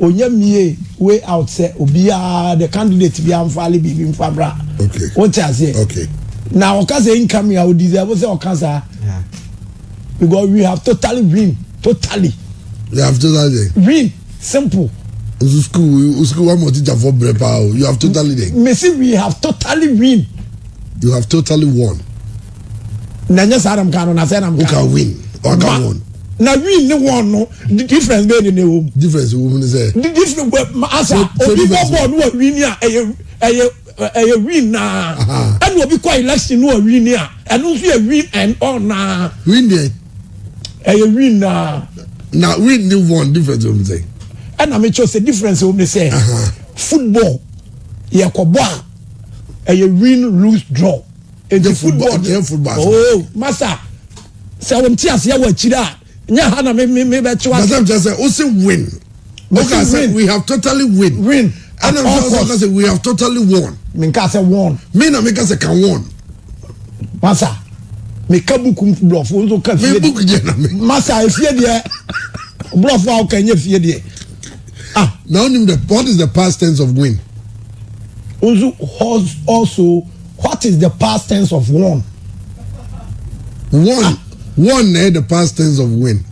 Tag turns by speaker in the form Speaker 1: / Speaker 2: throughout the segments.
Speaker 1: Onya mie way out sɛ obiaa the candidate biaa nfaale biribi nfa mmra wote
Speaker 2: aseɛ
Speaker 1: na
Speaker 2: ɔka sɛ
Speaker 1: incoming a ɔdeserve sɛ ɔka saa
Speaker 3: because
Speaker 1: we have totally win totally we have
Speaker 2: totally win simple
Speaker 1: nso school
Speaker 2: school wa ma teacher fo brɛ paa o you have totally win mesi we have
Speaker 1: totally win you have
Speaker 2: totally won. na
Speaker 1: nyɛ saa na mka no na sɛ na mka woka win waka
Speaker 2: wɔn na win ne wɔn
Speaker 1: no difference bɛyɛ ne na ɛwɔ mu difference wɔ mu ne sɛ
Speaker 2: difference wɔ
Speaker 1: asa obi bɔ bɔɔl no wa win a ɛyɛ ɛyɛ ɛyɛ win naa ɛna obi kɔ election no wa win a ɛno nso yɛ win and all naa win deɛ
Speaker 2: ɛyɛ
Speaker 1: win naa na win ne
Speaker 2: wɔn difference wɔ mu sɛ ɛna mekyɛ sɛ
Speaker 1: difference wɔ mu ne sɛ football yɛkɔbɔ a ɛyɛ win lose draw nti football deɛ football asoma oo masa sɛ wɔn ti aseɛ wɔ akyire a nyɛ ha na me me me bɛ kyewa masa kyerɛ sɛ o se
Speaker 2: win o ka sɛ we have totally win win ɛna mi sɛ ɔka sɛ we have totally won mi nka sɛ won
Speaker 1: mi na mi ka sɛ ka
Speaker 2: won masa
Speaker 1: mi ka buku blɔfo nso ka fie deɛ masa
Speaker 2: efie
Speaker 1: deɛ blɔfo a ɔka nye fie deɛ ah na
Speaker 2: onim the what is the past tense of win nso
Speaker 1: also. What is the past tense of won?
Speaker 2: Won. Won na ɛyɛ the past tense of win.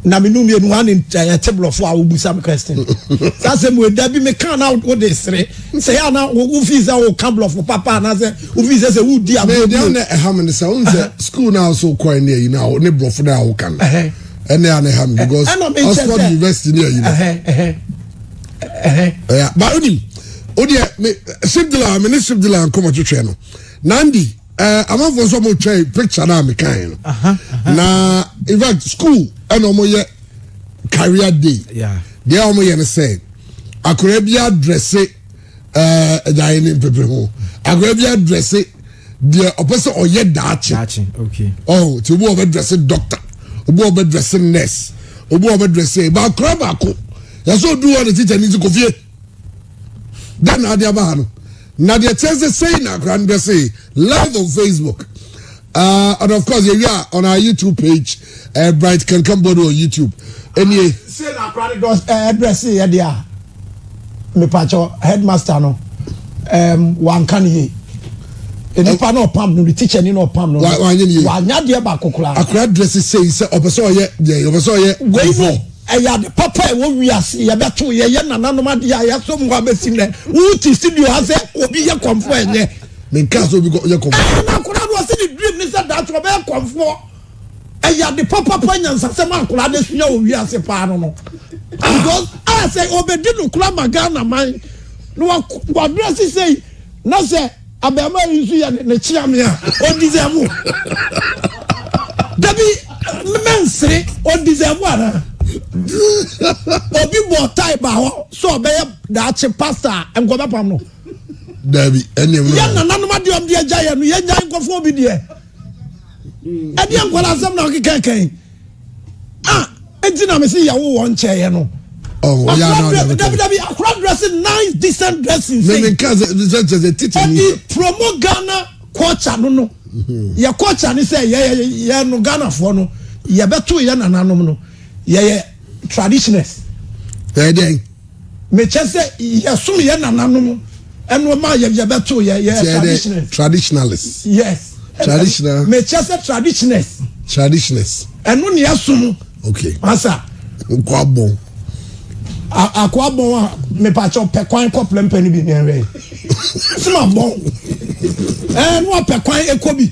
Speaker 2: Na me num
Speaker 1: yenu ane ɛte blɔfo a wobusa me question. Sɛ asɛ mu ɛda bi me kan na wo de sere. Sɛ ya na wo fi sɛ wo kan blɔfo papa na sɛ wo fi sɛ sɛ wo di agbo. Me dia na ɛha me ne
Speaker 2: sɛ wo sɛ school na so kɔ ne ayi na ne blɔfo na wo kan. Ɛne ane ha me because Oxford University ne ayi. ɛɛ ba onim o deɛ me sibdila me ne sibdila nkɔmɔ twitwɛ no nandi ɛɛ amanfoɔ nso ɔmo twɛ picture naa mi kan no na in fact school ɛna ɔmo yɛ career day deɛ ɔmo
Speaker 3: yɛ no sɛ
Speaker 2: akɔrɔ bi adrɛse ɛɛ ɛdan ne mpepere ho akɔrɔ bi adrɛse. deɛ ɔpɛ sɛ ɔyɛ daakye ɔho nti
Speaker 3: obi ɔbɛ
Speaker 2: dress doctor obi ɔbɛ dress nurse obi ɔbɛ dress baakora baako yɛsɛ odu hɔ ne tikya ne ti kofie dɛn na ade aba ha no na deɛ kyɛn sɛ sɛyi na akora no dress live on facebook uh, and of course yɛwie a on our youtube page ɛɛ bright kankan bɔ no wɔ youtube ɛnie. se na akora ne
Speaker 1: dɔs ɛɛ ɛbrɛ se yɛ de a mepakyɛ headmaster no ɛɛm wanka ne yie nipa na ɔpam no ne teacher ni na ɔpam no wanya deɛ baako koraa. akora dress sɛyi
Speaker 2: sɛ ɔpɛ sɛ ɔyɛ deɛ ɔpɛ sɛ ɔyɛ kɔnfɔ. ɛyɛ ade
Speaker 1: papa ɛwɔ wiase yɛbɛto yɛyɛ nananom adeɛ a yɛaso mu abɛsi nɛ wote studio ha sɛ obi yɛ kɔnfɔ ɛnyɛ. menka sɛ obi
Speaker 2: yɛ kɔnfɔ. ɛna akora no ɔse ne
Speaker 1: dream ne sɛ daakye ɔbɛyɛ kɔnfoɔ. ɛyɛ ade papapa nyansasɛm a akwadaa no asua wɔ wiase paa no no because a sɛ ɔbɛdi no kora ma ghana man na wabrɛ se sɛ na sɛ abɛɛma yi nso yɛ ne kyea me a ɔdisɛvo dabi mɛnsere ɔdisɛvo anaa obi bɔ tae ba hɔ sɛ ɔbɛyɛ daakye pasta a nkɔbɛpam no dabi
Speaker 2: ɛneɛ yɛ nananom adeɛ ɔmde
Speaker 1: agya yɛ no yɛgya nkɔfoɔ bi deɛ ɛdeɛ nkwadaa asɛm na ɔkeka kan a ɛnti na mese yɛwo wɔ nkyɛeɛ no
Speaker 2: dabidabi akora
Speaker 1: dressing nice decent dressing ɛde promo
Speaker 2: ghana culture no
Speaker 1: no mhm. yɛ culture ne sɛ yɛyɛ no ghanafoɔ no yɛbɛto yɛ nananom no yɛyɛ traditioners ɛdeɛn
Speaker 2: Mekyɛ
Speaker 1: sɛ yɛsom yɛ nananom ɛno ma yɛ yɛbɛto yɛ yɛ traditionalist. Traditionalist.
Speaker 2: Yes.
Speaker 1: Traditional. Mekyɛ
Speaker 2: sɛ
Speaker 1: traditionalist. Traditionalist. Ɛno ni ɛsom. Okay. Masa. Nkwabɔn.
Speaker 2: akoa
Speaker 1: bɔn a mepakyɛ ɔpɛ kwan kɔ plɛmpɛ no bi nɛwɛ sima bɔn ɛɛ no apɛ kwan ɛkɔ bi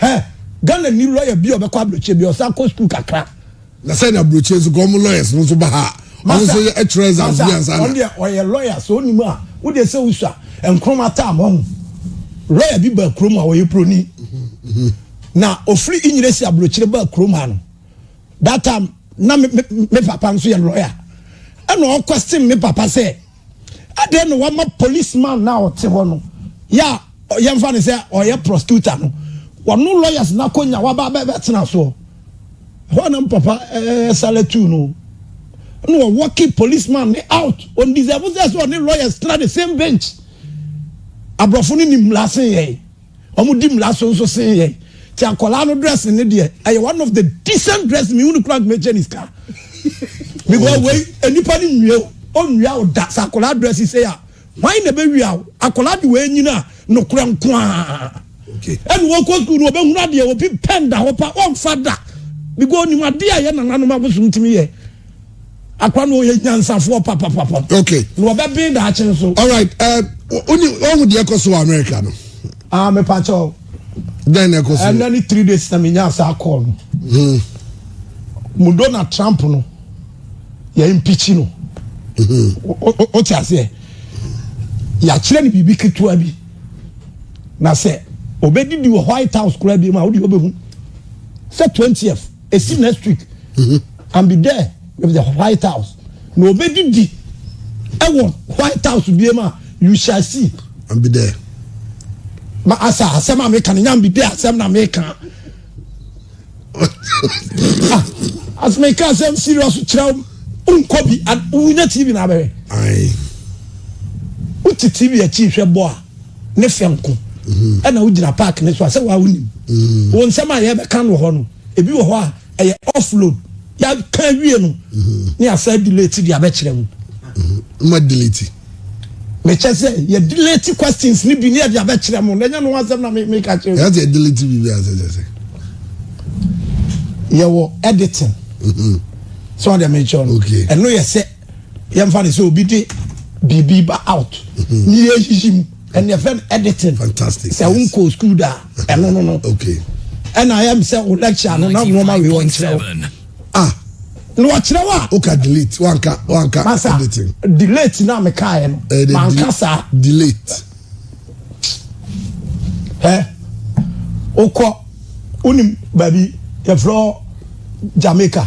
Speaker 1: Hɛ Ghana nni lawyer bi a
Speaker 2: ɔbɛkɔ
Speaker 1: aburokyire bia ɔsan kɔ school kakra. Na sɛ
Speaker 2: na aburokyire nso kɔ ɔmo lawyers no nso ba ha a ɔmo nso yɛ ɛtwerɛ exams bi ansa na. Ɔno deɛ ɔyɛ
Speaker 1: lawyer sɛ ɔnim a wo deɛ sɛ wosua nkroma tam ɔho lawyer bi baa kurom a ɔyɛ broni na ofiri inyire si aburokyire baa kurom ha no that time na me, me, me papa nso yɛ lawyer ɛna ɔkɔ stem me papa sɛ. Adɛn na wama police man no a ɔte hɔ no yɛ a yɛmfa no sɛ ɔyɛ prosecutor no wɔno lawyers no akɔnya waba bɛtena soɔ hɔ anam papa ɛsale tu no na wɔwɔke police man ne out ɔndeserve sɛ sɛ ɔne lawyers tena the same bench aborɔfo no nim lase yɛe Ɔmo di mmra so nso sen yɛn. Nti akwadaa no dressing ne deɛ, ɛyɛ one of the decent dressing, mehu no koraa nka mɛgye ne sika. Because wei, nnipa no nwie wo, ɔnnwia wo da. Sɛ akwadaa dressing sei a, hwan na ɛbɛwia wo? Akwadaa de wei nyini a, nokorɛ nko ara. Ɛna
Speaker 2: wɔkɔ sukuu no,
Speaker 1: wɔbɛhunu adeɛ, obi pɛn da hɔ pa, ɔmfa da. Because ɔnim adeɛ a ɛyɛ nananom abosom tumi yɛ. Akwa no ɔyɛ nyansafoɔ papapapa. Okay. Na ɔbɛ
Speaker 2: ben daakye
Speaker 1: nso. Alright, ɛɛ
Speaker 2: ɔni ɔhu deɛ ɛkɔ so wɔ America no. Ah, me pa kyɛw.
Speaker 1: Dɛn na ɛkɔ
Speaker 2: so? Ɛnna ni three days na
Speaker 1: mi nya asa call no. Hmm. Mu Donald Trump no yɛ impeach no. Mm-hmm. O ti aseɛ. Yɛakyerɛ no biribi ketewa bi. Na sɛ ɔbɛdidi wɔ White House koraa bi mu a, wode wobɛhu sɛ 20th esi next week mhm. and be there with the white house na obedidi ɛwɔ white house bie ma you shall see and be there
Speaker 2: ma
Speaker 1: asa asɛm a meka no nya be there asɛm na meka ah, as meka asɛm serious kyerɛ nkɔ bi wonya tv na abɛhwɛ wote tv akyi hwɛ bɔ a ne fɛ nko mm-hmm. ɛna wogyina park ne so a sɛ waa wonim mm-hmm. wɔ nsɛm a yɛbɛka no wɔ hɔ no ebi wɔ hɔ a ɛyɛ offload yɛaka awie no mm-hmm. ne asa delete de abɛkyerɛ mu ma
Speaker 2: delete mekyɛ
Speaker 1: sɛ yɛ delete questions ne bi ne yɛde abɛkyerɛ mu na ɛnyɛ no wasɛm na meka kyerɛ mu yɛde delete biribi asɛ
Speaker 2: sɛ sɛ
Speaker 1: yɛwɔ editing sɛ ɔde mekyerɛ no ɛno yɛ sɛ yɛmfa ne sɛ obi de biribi ba out ne yɛyiyi mu ɛne ɛfɛ no editing sɛ wonkɔɔ
Speaker 2: school da
Speaker 1: a ɛno no no
Speaker 2: ɛna ɛm
Speaker 1: sɛ wo lecture no na nnoɔma wei wɔnkyerɛ wo ah na wɔkyerɛ wo a woka delete wanka
Speaker 2: wanka editing delete na
Speaker 1: mekaeɛ no eh, manka saa
Speaker 2: delete ɛ
Speaker 1: wokɔ wonim baabi yɛfrɛ jamaica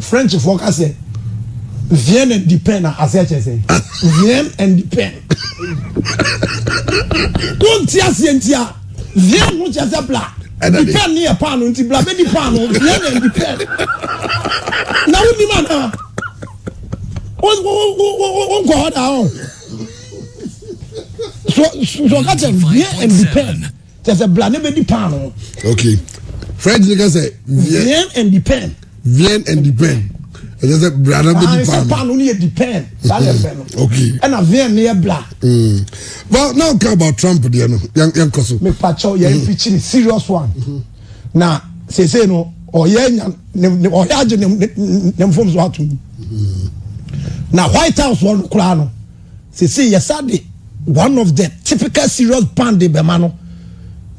Speaker 1: Frenchfoɔ ka sɛ vien and di pen a aseɛ kyerɛ sɛ vien and di pen wonti aseɛ nti a vien ho kyerɛ sɛ bla di pen ne yɛ paano nti bla bɛdi paano vien and di pen na wonim anaa wonkɔ hɔ daa ɔ so so ka kyerɛ vien and di pen kyɛ sɛ bla ne bɛdi paano. okay
Speaker 2: french ne ka sɛ. vien and depend.
Speaker 1: vien and depend ɛkyɛ
Speaker 2: sɛ bla na bɛdi paano. sɛ paano ne yɛ depend
Speaker 1: saa na ɛfɛ no. Mm, okay
Speaker 2: ɛna vien ne yɛ
Speaker 1: bla. Mm. well
Speaker 2: now ka about trump deɛ no yɛn kɔ so. mepa kyɛw yɛn mm-hmm. mpikyiri
Speaker 1: serious one mm-hmm. na sese no ɔyɛ nya ne ɔyɛ agye ne ne ne nfom so ato mu mm-hmm. na white house wɔn koraa no. Sesei yɛsan de one of the typical serious band de bɛma no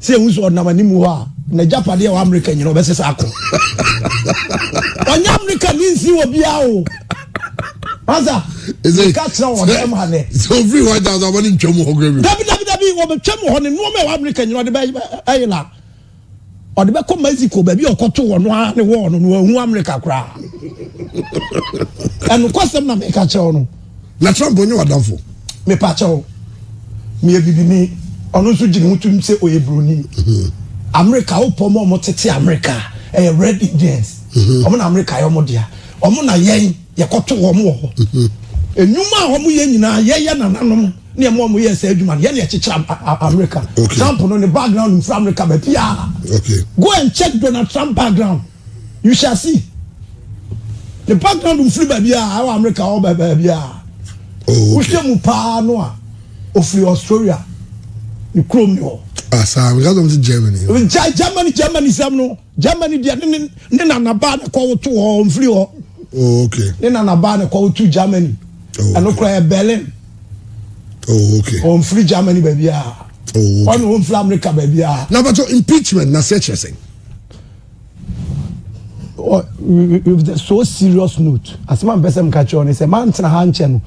Speaker 1: sɛ ehu sɛ ɔnam anim hɔ a n'agyapadeɛ wɔ Amerika nyina ɔbɛsesa akɔ. Ɔnyɛ Amerika ni nsi wɔ biara o. Asa, nka kyerɛ wɔ dɛm ha nɛ. Sɛ ofiri hɔ agya sɛ
Speaker 2: ɔbɛne ntwam hɔ kura bi. Dabi dabi dabi wɔbɛtwam
Speaker 1: hɔ ne nnoɔma ɛwɔ Amerika nyina ɔde bɛyɛ la. Ɔde bɛkɔ Mexico baabi a ɔkɔto wɔ no ara ne wɔɔ no no ahu Amerika koraa. Ɛnokwasɛm na meka kyɛw no. Na Trump onye
Speaker 2: wadamfo. Mepa kyɛw.
Speaker 1: Meyɛ bibini. Ɔno nso gyina ho tum sɛ ɔyɛ buroni. Mhm. Amerika wopɔ ma ɔmo tete Amerika ɛyɛ red Indians. Mhm. Ɔmo na Amerika yɛ ɔmo dea. Ɔmo na yɛn yɛkɔto wɔn wɔ hɔ. Mhm. Enyuma a ɔmo yɛ nyinaa yɛyɛ nananom. ne ɛma wɔn yɛɛ saa adwuma no yɛ na ɛkyekyere amerika okay. trump no ne background mfiri amerika baabiaa okay. go and check donald trump background you shall see ne background mfiri baabiaa ɛwɔ amerika ɔwɔ baabiaa oh, okay. wohwɛ mu paa no a ɔfiri australia ne kurom ne hɔ asaa ah, because of the
Speaker 2: germany gya germany germany
Speaker 1: sɛm no germany deɛ ne ne ne nanabaa ne kɔwoto hɔ mfiri hɔ oh, okay. ne
Speaker 2: nanabaa ne
Speaker 1: kɔwoto germany oh, ɛno koraa yɛ berlin oh okay wɔn firi germany baabi a oh okay wɔn wɔn firi america baabi a. na bàtò impeachment
Speaker 2: na se kyerɛ sɛn.
Speaker 1: with a so serious note asem a mpɛsɛ mka kyerɛ ɔne sɛ maa ntena ha nkyɛ no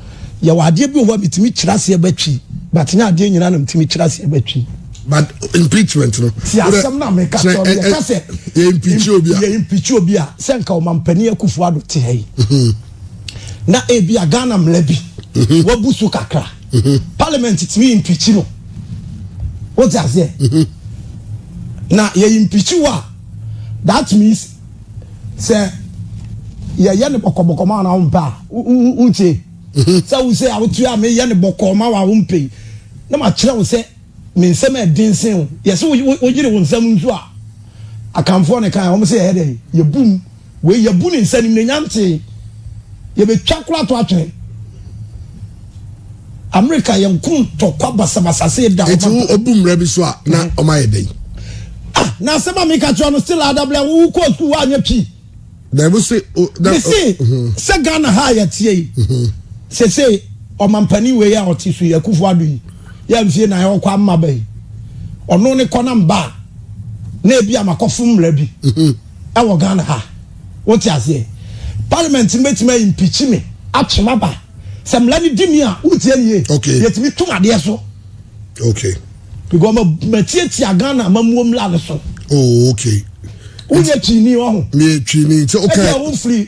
Speaker 1: yɛwɔ adeɛ bi wɔ hɔ a metumi kyerɛ aseɛ bɛtwi but nyɛ adeɛ nyinaa na metumi kyerɛ aseɛ bɛtwi but
Speaker 2: impeachment no. ti asɛm na mi ka
Speaker 1: sɔ mi yɛ ka sɛ. yɛ impeach obi a. yɛ impeach obi a sɛ nka ɔmampanin akufo ado te ha yi. na ebia Ghana mmara bi mhm. wabu so kakra mhm. parliament tumi impikyi no wote aseɛ mhm. na yɛ impikyi wo a that means sɛ yɛyɛ ne bɔkɔbɔkɔ ma ɔna wompɛ a wonkye sɛ wo sɛ awotu a meyɛ ne bɔkɔ ma wo a wompɛ yi na makyerɛ wo sɛ me nsɛm a ɛden sen wo yɛsɛ woyere wo nsɛm nso a akanfoɔ ne kan wɔn sɛ yɛyɛ dɛ yɛbum Wei yɛbu no sɛ animuonyam tee. Yɛbɛtwa koraa ato atwene. Amerika yɛ nko ntɔkwa basabasa sɛ yɛda ɔmantam. Eti wo obu mmara bi
Speaker 2: so a na mm. ɔma yɛ dɛn? Ah, na
Speaker 1: asɛm a meka kyerɛ no still adabla wo kɔ sukuu woanyɛ pii. Dɛbi se.
Speaker 2: Mese mhm.
Speaker 1: sɛ Ghana ha a yɛteɛ yi mhm. sese ɔmampanin wei a ɔte so yi akufo ado yi yɛ mfie na ɔkɔ ama bɛyi ɔno ne kɔ na mba na ebi amakɔfo mmara bi. Mhm. wɔ Ghana ha. Wote aseɛ? Parliament no bɛtumi a impeach me, atwe m'aba. Sɛ mmara no di ni a, wotie nie, okay. yɛtumi to m'adeɛ so. Okay.
Speaker 2: Because
Speaker 1: matiatia Ghana amammuo mmara no so. Oh, okay.
Speaker 2: Wonyɛ
Speaker 1: twini wɔ ho. Meyɛ twini nti
Speaker 2: okay. Ɛbi a wofiri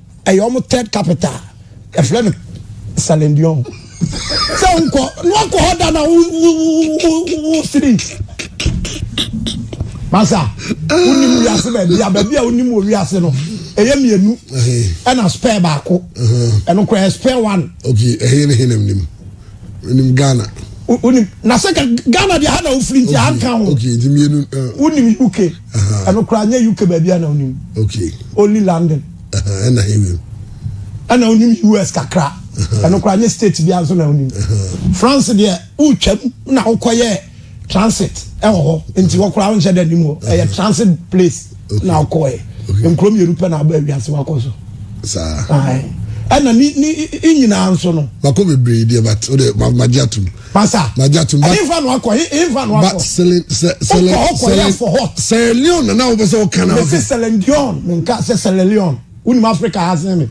Speaker 1: ɛyɛ wɔn third capital ɛfrɛ no salendion sɛ nkɔ na wakɔ hɔ da na wosiri masa wonim wiase baabi a baabi a wonim wɔ wiase no ɛyɛ mmienu ɛna spare baako ɛno koraa spare one okay ɛyɛ ne henam
Speaker 2: nim nim ghana wonim na
Speaker 1: sɛ ghana deɛ ha na wofiri nti anka ho
Speaker 2: wonim uk
Speaker 1: ɛno koraa nyɛ uk baabi a na onim only london
Speaker 2: ɛna onim
Speaker 1: us kakra ɛno koraa nyɛ state bi nso na onim france deɛ wotwam na wokɔyɛ transit ɛwɔ hɔ nti hɔ koraa wonhyɛ dɛ nim hɔ ɛyɛ transit place na wokɔɛ nkuro mmienu pɛ na aba awiase wakɔ so saa
Speaker 2: ɛna
Speaker 1: ni ni nyinaa nso no. Mako bebree deɛ but
Speaker 2: o de ma ma gye atum. Pasa. Na gya
Speaker 1: tum. Ɛhe nfa no
Speaker 2: akɔ? Ɛhe
Speaker 1: nfa no akɔ? Ba sele
Speaker 2: sɛ sele sele. Ɔkɔ ɔkɔ yɛ afɔ hot. Sele Leon nana wo bɛ sɛ ɔka na. Mesi sele Leon
Speaker 1: mi nka sɛ sele Leon wunim Africa ha sen mi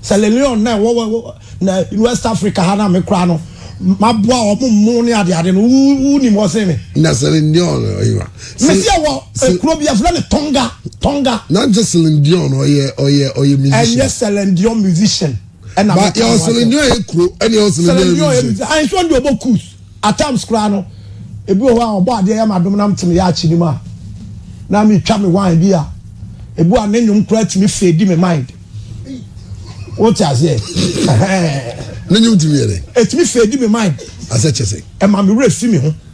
Speaker 1: sele Leon na ɛwɔ wɔ na West Africa ha na mi kura no ma boa ɔmo mmo ne ade ade no wunim hɔ sen mi. Na sele Leon
Speaker 2: ɔyɛ wa. Mesi ɛwɔ
Speaker 1: ekuro bi afilɛ ne Tonga Tonga. Na n sɛ sele
Speaker 2: Leon ɔyɛ ɔyɛ ɔyɛ musician. Ɛnyɛ sele
Speaker 1: Leon musician. ɛna mi ka ho asɛm. Selendua
Speaker 2: yɛ kuro ɛna yɛ selendua yɛ region. Ayi nso ɔdi ɔbɔ kus
Speaker 1: at times koraa no ebi wɔ hɔ a ɔbɔ adeɛ yɛ ma dom na mi te mi yɛ akyi ni mu a na mi twa mi wine bi a ebi a ne nnwom koraa ti mi fɛ di mi mind o ti aseɛ ɛhɛn.
Speaker 2: Ne nnwom ti mi yɛ dɛ. Eti mi fɛ di mi mind.
Speaker 1: Asɛ kyɛ sɛ. Ɛma
Speaker 2: mi wura fi
Speaker 1: mi ho.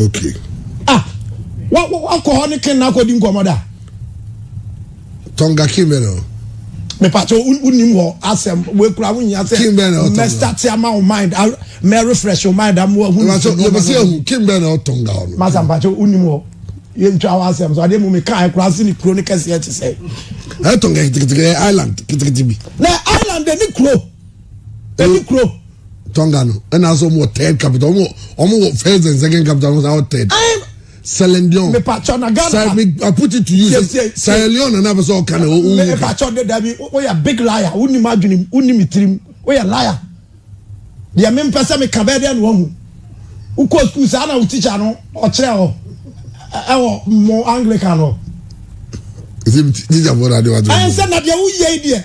Speaker 2: okay ah
Speaker 1: wa wa wa kɔ hɔ
Speaker 2: ne ken
Speaker 1: na akɔ di nkɔmɔ da.
Speaker 2: tɔnga
Speaker 1: kin bɛ na o. mepatɛ o nim hɔ asɛm wekura ho nyia sɛ kin bɛ na ɔtɔnga mɛsta ti ama o mind mɛ refresh o mind amu ɛhu. mepatɛ yɛ bɛ se ehu kin
Speaker 2: bɛ na ɔtɔnga ɔno. masa mpatɛ o nim hɔ
Speaker 1: yɛ ntwa hɔ asɛm so adeɛ mu mi kan ɛkura ase ne kuro ne kɛseɛ ti sɛ. ɛtɔnga kitikitikɛ
Speaker 2: island kitikiti bi. na island de
Speaker 1: ne kuro. Ɛni kuro. Tonga no
Speaker 2: ɛna asɛ wɔn wɔ third capital wɔn wɔ wɔn wɔ first and second capital wɔn wɔ third. Sierra Leone. Mipatwa na Ghana.
Speaker 1: Sir, me, I put it to you.
Speaker 2: Sierra Leone na n'afɛ sɛ ɔka na ɔwɔ wuka. Mipatwa de dabi
Speaker 1: o yɛ big liar o ni ma adwene o ni mi tirim o yɛ liar. Deɛ mi mpɛ sɛ mi ka bɛɛ deɛ na wɔn hu. Wokɔ sukuu saa na wo tikya no ɔkyerɛ hɔ ɛwɔ mo Anglican hɔ. Ɛsɛ
Speaker 2: mi tikya bɔ na adeɛ wa to. Ɛnsɛ na deɛ woyɛ
Speaker 1: yi deɛ.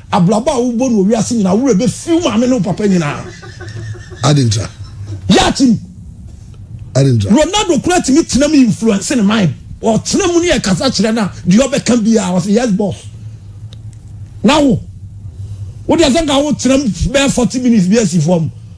Speaker 1: Abrabɔ a wobɔ no wɔ wiase nyinaa, wo werɛ bɛfi wo maame ne wo papa nyinaa. Ade
Speaker 2: ntra. Yɛ atim.
Speaker 1: Ade
Speaker 2: ntra. Ronaldo kura tumi tena
Speaker 1: mu influence ne mind. Ɔtena mu ne yɛ kasa kyerɛ na deɛ ɔbɛka biara ɔsɛ yes boss. Na wo, wo deɛ sɛ nka wo tena mu bɛyɛ forty minutes bi asi fam.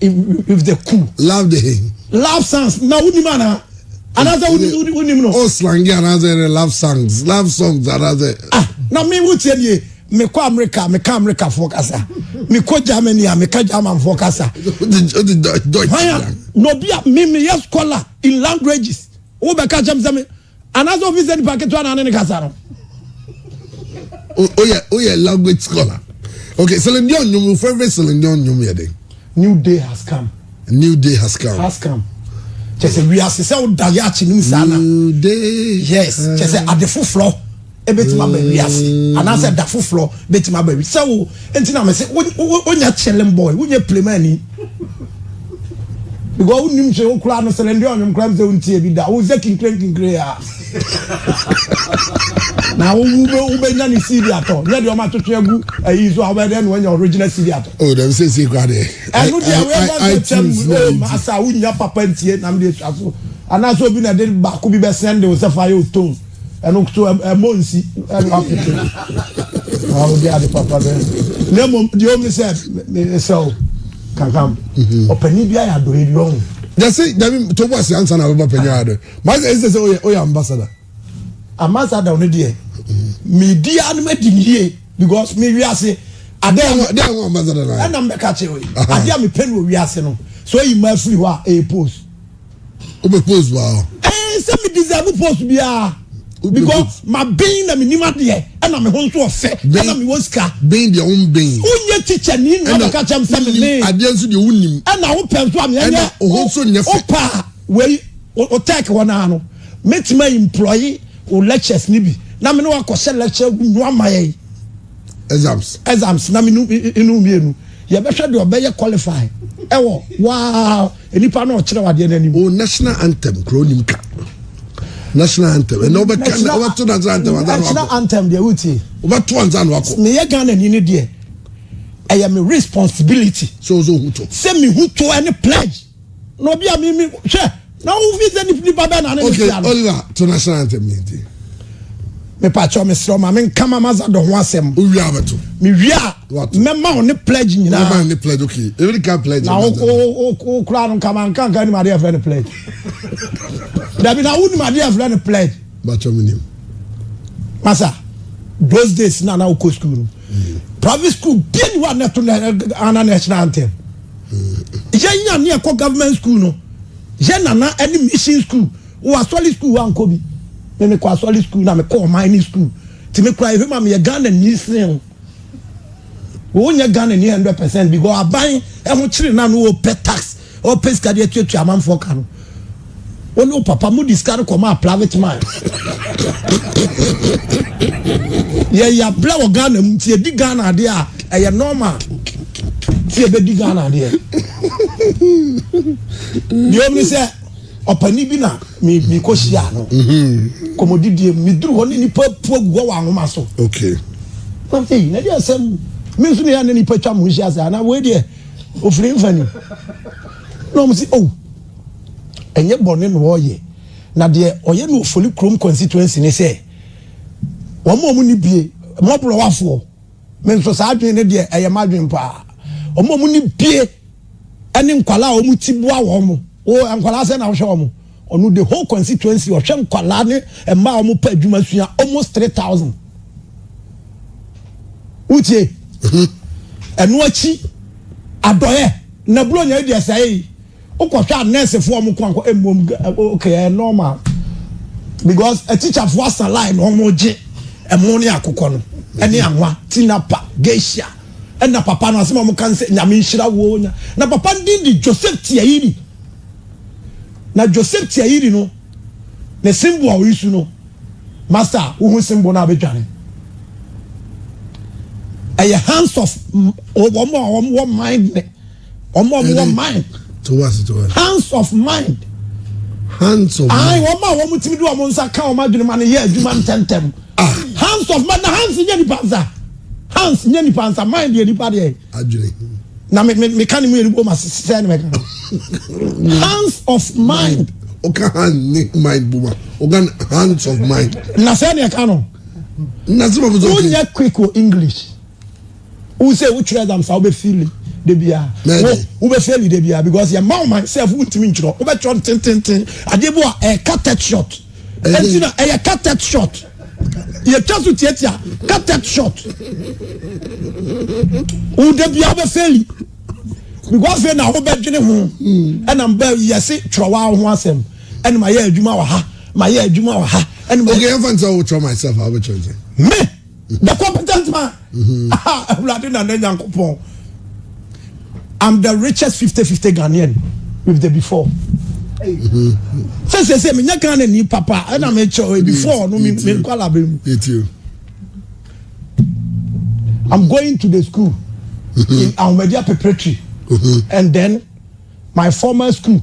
Speaker 1: with the cool. love the hey. love songs na wonim anaa anaasɛ wonim no. o slangi anaasɛ
Speaker 2: ne love songs love songs anaasɛ. ah na mi wo
Speaker 1: tiɛ nie mekɔ amerika meka amerikafoɔ kasa mekɔ germany a meka germanfoɔ kasa hwan a na obi a me meyɛ scholar in languages wobɛka kyɛm sɛ me anaasɛ obi sɛ nipa ketewa na ne ne kasa no.
Speaker 2: oyɛ oyɛ language scholar okay Celine Dion nnwom wo favourite Celine Dion nnwom yɛ den. new day has
Speaker 1: come. new day has come. has come. kyɛ sɛ wiase sɛ woda yɛ akyi no mu saa na. new day.
Speaker 2: yes kyɛ sɛ
Speaker 1: ade foforɔ. ebetumi aba wiase anaasɛ da foforɔ betumi aba wiase sɛ wo nti na mese wonya chilling boy wonyɛ plemani because wonim sɛ wokura no sɛlɛ ndeɛ ɔnwom kora m sɛ wontie bi da wo sɛ kinkirenkinkire a na wobɛnya ne cd atɔ nyɛ deɛ ɔma twetwe agu ayi so a wobɛyɛ dɛ na wanya original cd atɔ oh, dɛm sɛ sie kora deɛ
Speaker 2: ɛno deɛ woyɛ
Speaker 1: sɛ kyɛm asa wonya papa ntie nam deɛ sua so anaasɛ obi na de baako bi bɛsɛn de wo sɛ fa yɛ otone ɛno nso ɛmmɔ nsi ɛno apete na wode ade papa bɛ na mmom deɛ ɔm ne sɛ mesɛ wo kankam mhm. ɔpani bi ayɛ adɔe bi ɔho yɛse dabi
Speaker 2: tobo ase ansa na wobɛba panyin adɔe masɛ ɛsɛ sɛ woyɛ ambassador ambassador
Speaker 1: no deɛ mhm. medi a no madi yie because me wiase
Speaker 2: ɛna mbɛka kyerɛ wei
Speaker 1: adeɛ a mepɛ no wɔ wiase no so ayi ma afiri hɔ a ɛyɛ post o bɛ
Speaker 2: post wa hɔ. ɛɛ sɛ mi deserve
Speaker 1: post biara because ma ben na mi nim adeɛ ɛna mi ho nso ɔfɛ ɛna mi wɔ sika. ben deɛ o n ben.
Speaker 2: o n yɛ teacher ni na
Speaker 1: ɔbɛ kakyɛ mi sɛ mi ben. adeɛ nso deɛ o n nim.
Speaker 2: ɛna o pɛ nso ami
Speaker 1: ɛnyɛ o ho nso nyɛ fɛ. o
Speaker 2: pa wei
Speaker 1: o tɛk hɔ naa no mi ti ma employe o lectures ni bi na mi ni wa kɔ sɛ lecture nu ama yɛ yi. exams. exams na mi nu inu mienu yɛ bɛ hwɛ deɛ ɔbɛ yɛ qualify ɛwɔ waa. Nipa na ɔkyerɛw adeɛ no anim. Oh national anthem kura
Speaker 2: onim ka national anthem ɛnna ɔbɛka na ɔbɛto national anthem ansa na wakɔ. national anthem deɛ wotie.
Speaker 1: ɔbɛto ansa na wakɔ.
Speaker 2: meyɛ ghana ni ne deɛ
Speaker 1: ɛyɛ me responsibility. sɛ ɔsɛ ohu to.
Speaker 2: sɛ mi hu to ɛne
Speaker 1: pledge na obi a mi mi hwɛ na ohun fi sɛ nipa bɛɛ na ne ne fia no. okay oliver to
Speaker 2: national anthem ni ti.
Speaker 1: mepa kyɛw mesrɛ ɔma me nkama ma za dɔ ho asɛm. owia abɛto.
Speaker 2: mewia a.
Speaker 1: mɛma wo ne pledge nyinaa mɛma ne pledge okay
Speaker 2: ebi ka pledge na wo
Speaker 1: wo kura no nkama nkanka nim adeɛ fɛ ne pledge dabi na wo nim adeɛ fɛ ne pledge bàtɔ mi nim masa those days na na wo kɔ school no mm. private school bia ni wa na to na ana national anthem mm. yɛn nya ne ɛkɔ government school no yɛn nana ɛne mission school wɔ asɔli school wa nkɔ bi ne ne kɔ asɔli school na me kɔ ɔman ne school tìmí kura ebi ma mi yɛ ghana nyi sin. wonyɛ Ghana ni hundred percent bi gɔ aban ɛho kyerɛ na no ɔpɛ tax ɔpɛ sika deɛ tuatua amanfoɔ ka no wɔn ne papa mu di sika no kɔ maa private man yɛ yɛ abirɛ wɔ Ghana mu ti edi Ghana adeɛ a ɛyɛ normal ti ebedi Ghana adeɛ deɛ omi sɛ. Ɔpanin bi na mekɔhyiaa no kɔmmɔdidie mu. Meduru hɔ ne nnipa atu agu hɔ wɔ ahoma so. Na
Speaker 2: ei,
Speaker 1: na deɛ asɛm me nso ne a na nnipa twa mo nhyia sɛ anaa wei deɛ ɔfiri mfa ni. Na wɔn si oh ɛnyɛ bɔne na ɔreyɛ na deɛ ɔyɛ no Ofori kurom constituency ne sɛ wɔn a wɔn ni bie mmɔborɔwafoɔ. Me nso saa adwene no deɛ ɛyɛ m'adwene paa. Wɔn a wɔne bie ɛne nkwadaa a wɔn ti boa wɔn mo. Wo nkwadaa sɛ na wohwɛ wɔn mo. Ɔno the whole constituency ɔhwɛ nkwadaa ne mmaa a wɔn pɛ adwuma sua almost three thousand. Wotie? Ɛno akyi adɔyɛ na buronya yi deɛ sɛe. wokɔhwɛ a nurse foɔ ɔmo kɔnkɔ mmom ok ɛyɛ normal because teacher foɔ asa line na ɔmo gye ɛmo ne akokɔ no ɛne anwa tinapa geisha ɛna papa no asɛm a ɔmo kan sɛ nyame nhyira wo nya na papa no din de joseph tiayiri na joseph tiayiri no ne simbo a oyi su no master wohu simbo no a bɛdwane ɛyɛ hands of wɔn a wɔn wɔ mind ne Wɔn a wɔwɔ mind. Towards towards.
Speaker 2: Hands of mind.
Speaker 1: Hands
Speaker 2: of mind. Ayi wɔn a wɔn tumi de
Speaker 1: wɔn nsa ka wɔn adwene ma no yɛ adwuma ntɛntɛm. Ah. Hands of mind na hands nyɛ nipa nsa. Hands nyɛ nipa nsa mind yɛ nipa deɛ. Adwene. Na me me me ka ne mu yɛ nipa ma sisɛ ne mɛ ka. Hands of mind. Oka hand
Speaker 2: ne mind buma. Oka hands of mind. Na sɛ ne ka no.
Speaker 1: Na sɛ ma fi sɔ. Wonyɛ quick o English. Wo se wo twerɛ exam saa wobɛ fili da biaa wo wo bɛ fili da biaa because yɛ ma wo man self wo ntimi ntwerɛ wobɛ twerɛ ntententen adeɛ bi wa ɛyɛ cartet shot ɛnti na ɛyɛ cartet shot yɛ twa so tiatia cartet shot wo da biaa wobɛ fili because fɛ na wobɛ dwene ho ɛna mbɛ yɛse twerɛ wa ho asɛm ɛna ma yɛ adwuma wɔ ha ma yɛ adwuma wɔ ha ɛna ma yɛ okay ɛmfa nsɛ wo twerɛ
Speaker 2: myself a wobɛ twerɛ me
Speaker 1: The competent man. Awurade na ne Nyankopɔn. I'm the richest 50-50 Ghanaian with the before. Sɛ sɛ sɛ menya Ghana ni papa ɛna mekyɛ eh, before no menkwala bɛ mu. I'm going to the school in Ahomadi Preparatory and then my former school.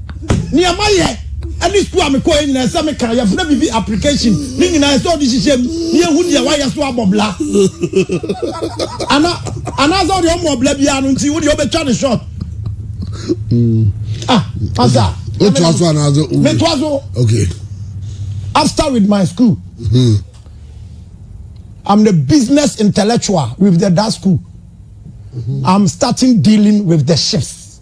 Speaker 1: Nea mayɛ ne sukuu a mekɔeɛ nyinaa, ɛsɛ sɛ meka, yɛfrɛ biribi application, ne nyinaa ɛsɛ sɛ wode hyehyɛ mu na yɛhu deɛ woayɛ so abɔ bla. Ana, anaasɛ wodeɛ wommɔ bla biara no nti wodeɛ wobɛtwa ne short. Ah, asa. Wotoa so anaasɛ
Speaker 2: wo? Metoa so. Okay.
Speaker 1: After with my school. Hmm. I'm the business intellectual with the that school. Mm-hmm. I'm starting dealing with the ships.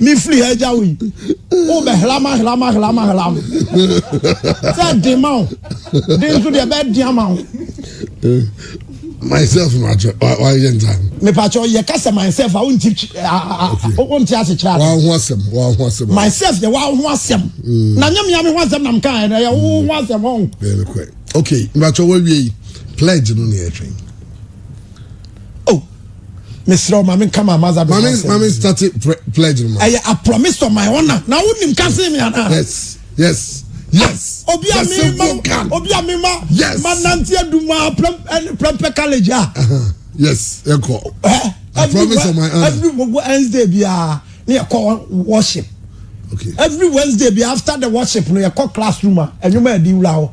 Speaker 1: Me firi ha gya wo yi. Wo bɛ hlam ahlam ahlam ahlam. Sɛ den ma wo. Den nso deɛ bɛ den ama wo.
Speaker 2: Myself ma atwɛ wa yɛ nta. Me pa atwɛ yɛ kasa
Speaker 1: myself a wo nti wo nti ase kyerɛ. Wa ho asɛm wa ho asɛm. Myself yɛ wa ho asɛm. Mm. Na nyɛ mi ami ho asɛm nam kan yɛ yɛ wo ho asɛm ho. Bɛn kɔ. Okay,
Speaker 2: ma atwɛ wa wie pledge no ne yɛ twɛn.
Speaker 1: mesrɛ wo ma menka ma maza ma me ma me start
Speaker 2: pledge no ma ɛyɛ a promise to
Speaker 1: my honor na wonim ka se me anaa yes yes
Speaker 2: yes ah, obi
Speaker 1: a me ma obi a me ma yes ma
Speaker 2: nante aduma
Speaker 1: prempɛ college a uh-huh. yes
Speaker 2: ɛkɔ eh, I promise to my honor every Wednesday
Speaker 1: bi a ne yɛkɔ worship okay every
Speaker 2: Wednesday bi
Speaker 1: after the worship no yɛkɔ classroom a ɛnwuma ɛdi wura hɔ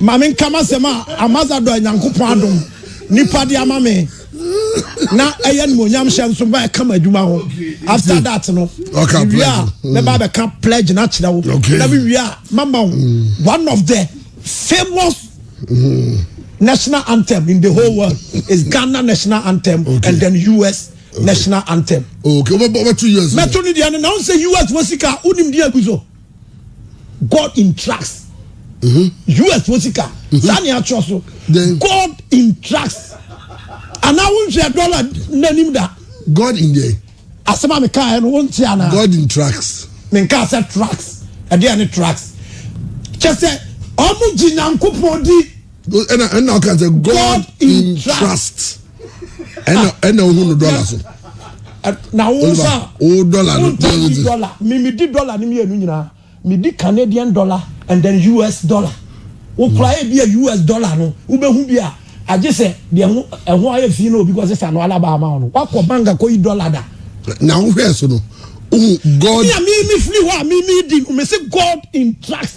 Speaker 1: Ma menka m'asɛm a Ambasadɔ a Nyankopɔn adom nnipa de ama me na ɛyɛ animuonyam hyɛ nso ba ɛka m'adwuma ho. After that no, mewie a mɛba abɛka pledge no akyerɛ wo. Na mewie a mama wo mm. one of the famous mm. national anthem in the whole world is Ghana national anthem okay. and then US okay. national anthem. Okay, wobɛto
Speaker 2: US. Mɛto ne deɛ no na wo sɛ
Speaker 1: US wɔ sika wonim deɛ agu so. god in tracks us fo sika saa ne atwerɛ so god in tracks anaa wonhwɛ dɔla n'anim da god in deɛ
Speaker 2: asɛm a mekaeɛ
Speaker 1: no wonte anaa god in tracks
Speaker 2: menkaa sɛ tracks
Speaker 1: ɛdeɛ ne tracks kyɛ sɛ ɔmo gye nyankopɔn di ɛna ɛna ɔka
Speaker 2: sɛ god in trust ɛna ɛna ohun no dɔla so. na
Speaker 1: wo nsa o dɔla no di dɔla mimi di dɔla ni mienu nyinaa mi di canadian dollar and then us dollar wokura yɛ bi a us dollar no wobɛhu bi a agye sɛ deɛ ho ɛho ayɛ fi na obi kɔ sesa no alaba ama wo no wakɔ bank akɔ yi dɔla da. na wohwɛ so
Speaker 2: no ohun god. mi a mi mi firi hɔ a
Speaker 1: mi mi di mi si god in trust.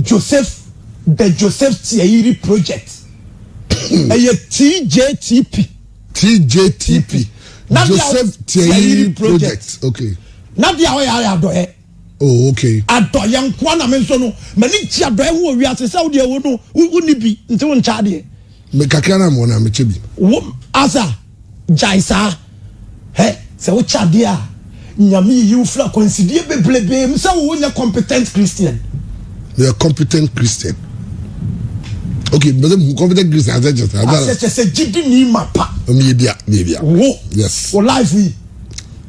Speaker 2: Joseph
Speaker 1: The Joseph Tiayiri Project ɛyɛ TJTP. TJTP
Speaker 2: Joseph Tiayiri Project okay. Na deɛ ɔyɛ ayɛ
Speaker 1: adɔyɛ. Oh okay.
Speaker 2: Adɔyɛ nkoa na
Speaker 1: me nso no m'ani gye adɔyɛ ho wɔ wiase sɛ wodeɛ wo no wonni bi nti wo nkyɛ adeɛ. Me kakra na mewɔ
Speaker 2: na mekyɛ bi. Wo asa.
Speaker 1: Gyae saa. Hɛ, sɛ wokyɛ adeɛ a, Nyame yiyi wo firi akwansideɛ bebrebee mu sɛ wo nyɛ competent Christian. Meyɛ
Speaker 2: competent Christian. Okay, mbese mu competent Christian asɛ kyɛ sɛ. Asɛ kyɛ sɛ gyidini
Speaker 1: mapa. Meyɛ bia, meyɛ bia.
Speaker 2: Wo.
Speaker 1: Yes. Wo life
Speaker 2: yi.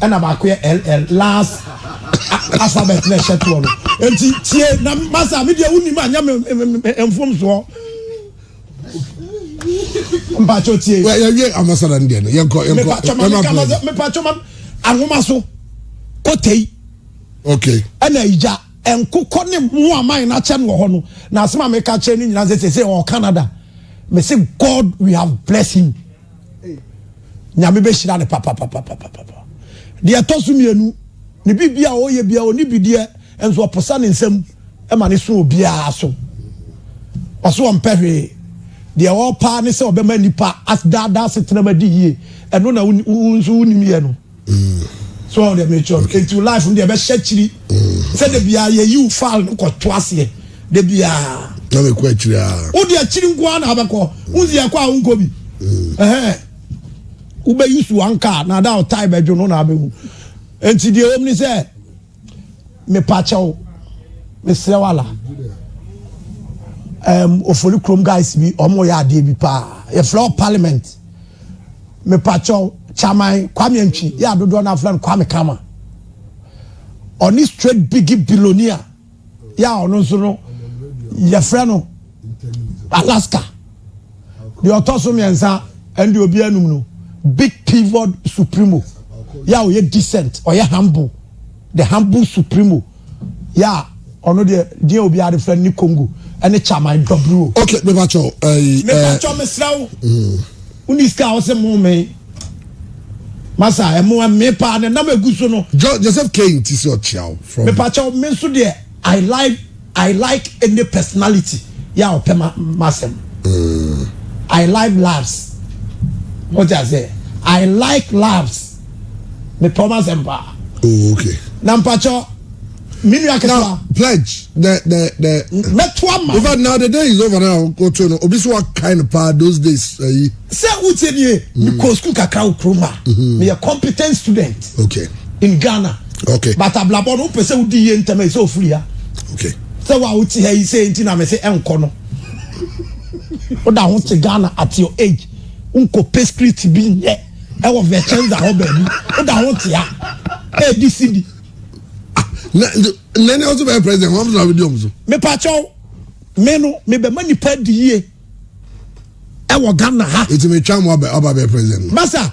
Speaker 1: Ɛna baako yɛ LL, last alphabet na ɛhyɛ toɔ no. Enti tie na masa a, me deɛ wonim a nyɛ me mfomsoɔ. Mpakyɛ tie. Wɛ yɛwie amasada no
Speaker 2: deɛ no, yɛnkɔ, yɛnkɔ. Mepakyɛ ma meka ma
Speaker 1: sɛ, mepakyɛ ma ahoma so, kotei. Okay.
Speaker 2: Ɛna igya,
Speaker 1: nkokɔ ne mu aman no akyɛ no wɔ hɔ no. Na asɛm a meka kyerɛ ne nyinaa sɛ sɛ sɛ ɔwɔ Canada. Me se God we have blessed him. Nyame bɛhyira no papapapapapa. Deɛ ɛtɔ so mmienu, ne biribi a ɔyɛ biara ɔni bideɛ nso ɔposa ne nsam ma ne so obiara so. Ɔso ɔmpɛ hwee. Deɛ ɔpaa ne sɛ ɔbɛma nipa asdaadaa setenam adi yie. Ɛno na wo nso wonim yɛ no. so ɔde mekyerɛ no nti life no deɛ ɛbɛhyɛ akyiri sɛ da biara yɛyiw file no kɔto aseɛ da biara na mekɔ akyiri
Speaker 2: a wode akyiri nko ara na
Speaker 1: abɛkɔ wonsi ɛkɔ a wonkɔ bi wobɛyi so anka na ada ɔtae bɛdwo no na abɛhu nti deɛ wɔm ne sɛ Mepakyɛw, mesrɛ wo ala. Um, ofori krom guys bi, ɔmo yɛ adeɛ bi paa. Yɛfrɛ wɔ parliament. Mepakyɛw, chairman Kwame Antwi, yɛ adodoɔ no afrɛ no Kwame Kama. Ɔne straight biggie billionaire, yɛ a ɔno nso no, yɛfrɛ no Alaska. Deɛ ɔtɔ so mmiɛnsa ɛne deɛ obi anum no big pivot supremo yɛ a ɔyɛ decent ɔyɛ humble the humble supremo yɛ a ɔno deɛ deɛ obi ade fɛ ne Congo ɛne chaman dɔburo. ok bɛba kyɛw
Speaker 2: ɛyi ɛɛ bɛba kyɛw mesra
Speaker 1: wo woni sika a ɔsɛ mo me masa ɛmo ɛme paa ne nam egu so no. Joseph Kane ti
Speaker 2: sɛ ɔkyia wo from. Bɛba kyɛw me nso deɛ.
Speaker 1: I like I like any personality yɛ a ɔpɛ m'asɛm. I like laughs. Mo ti ase? I like laughs. Me pɛ ɔmo asɛm paa. Oh, okay.
Speaker 2: Na mpatsɔ,
Speaker 1: mi nua ketewa. Now, pledge, the,
Speaker 2: the, the. Mɛto ama. In
Speaker 1: fact, now the day is
Speaker 2: over now, go to no, obi so wa kind pa those days, ayi. Sɛ o tie
Speaker 1: nie, mi kɔ school kakra o kuruma, mi yɛ competent student. Okay. In
Speaker 2: Ghana.
Speaker 1: Okay. But ablabɔ
Speaker 2: no wopɛ sɛ
Speaker 1: wodi yie ntɛm a ɛsɛ ofiri ha. Okay. Sɛ
Speaker 2: wo a wote ha
Speaker 1: yi sɛ nti na mese ɛnkɔ no. Woda ho te Ghana at your age. Wonkɔ pɛ street bi nyɛ ɛwɔ Vicenza hɔ baabi. Woda ho te ha. Ɛdi si bi.
Speaker 2: Nani ɔso bɛyɛ president wɔn na wodi ɔmo so. Mepa kyɛw
Speaker 1: me no mebɛma nipa di yie ɛwɔ Ghana ha. Eti metwa mo aba
Speaker 2: bɛyɛ president no. Masa.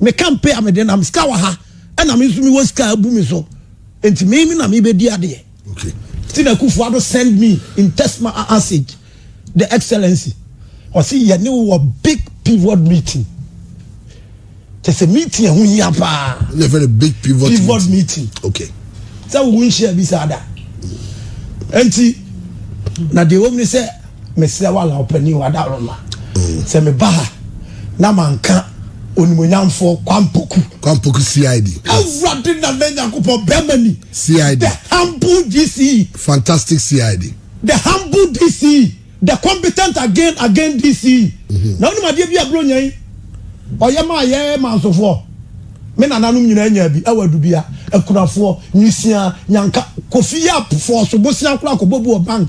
Speaker 1: Me kampe a mede nam sika wɔ ha ɛna me nso mewɔ sika abu me so nti me me na mebɛdi adeɛ okay. nti na
Speaker 2: Akufo Addo
Speaker 1: send me in text message the excellency ɔse yɛne wɔ big pivot meeting kyɛ sɛ meeting ɛho hia paa
Speaker 2: pivot meeting okay. sɛ wo nhyia
Speaker 1: bi saa da nti na deɛ wɔm ne sɛ Mesrɛ wo Allan Ɔpanin o, Adaworoma, sɛ meba ha na manka Onimuonyamfoɔ Kwampoku. Kwampoku CID. Awurade Nana Nyankopɔn, Bɛrima Ni. CID. The
Speaker 2: humble
Speaker 1: DCE. Fantastic CID.
Speaker 2: The humble
Speaker 1: DCE. The competent again again DCE. Mhm. Na wonim adeɛ bi a Buronya yi ɔyɛ maa yɛ mansofoɔ? Me nananom nyinaa nyaa bi, ɛwɔ Adubia, Akunafoɔ, Nwisiaa, Nyanka, Kofi Yap, Fɔɔso, Bosea koraa kɔbɔ bu wɔ bank.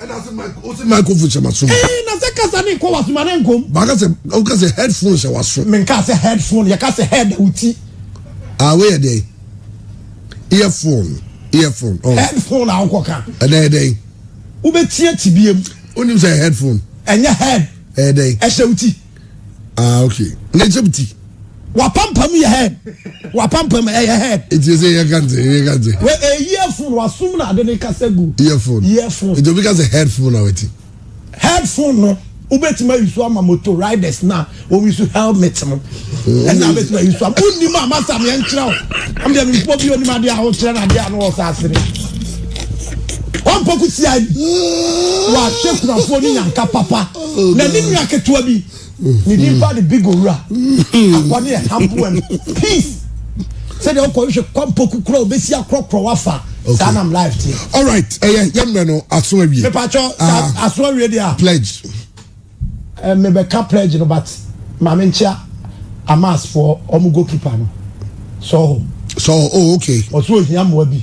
Speaker 1: ɛna sɛ mic o sɛ microphone
Speaker 2: hyɛ ma so. ɛɛ na sɛ kasa ne
Speaker 1: nkɔ waso ma ne nkom. baaka sɛ o ka sɛ
Speaker 2: headphone hyɛ waso. mi nka sɛ headphone
Speaker 1: yɛ ka sɛ head o ti. aa wei yɛ
Speaker 2: dɛ earphone earphone. Oh. headphone a ɔkɔ
Speaker 1: kan. ɛdɛ yɛ dɛ.
Speaker 2: wobɛ tie
Speaker 1: ti bie mu. o nim sɛ headphone.
Speaker 2: ɛnyɛ head.
Speaker 1: ɛyɛ dɛ. ɛhyɛ o
Speaker 2: ti.
Speaker 1: ah ok
Speaker 2: na egypt wapampam
Speaker 1: yɛ head wapampam ɛyɛ head. eti ese yɛ kante
Speaker 2: yɛ kante. wɛ ɛ eh, earphone
Speaker 1: wasum na ade ne kasa gu. earphone earphone. eti obi kasa headphone
Speaker 2: na wɛti. headphone
Speaker 1: no wobɛtumi ayi so ama moto riders na wɔyi so helmet no ɛna wobɛtumi ayi so ama wonim a masa meɛ nkyerɛ wo amdeɛ mempɔ bi onim adeɛ a wokyerɛ no adeɛ a no wɔ saa sere ɔmpɔ ko tia yi wɔahyɛ kunafoɔ ne nyanka papa na ne nua ketewa bi ne din ba de big owura akwa ne ɛhaboa no peace sɛdeɛ wokɔhwehwɛ kwampɔku kora wobɛsi akorɔkorɔ wafa saa nam life teɛ alright ɛyɛ eh,
Speaker 2: yɛmmerɛ no aso awie mepakyɛ ah.
Speaker 1: aso awie deɛ a pledge eh, mebɛka pledge no but ma menkyea amasfoɔ ɔmo goalkeeper no sɔho sɔho oh
Speaker 2: okay ɔso ohia mmoa bi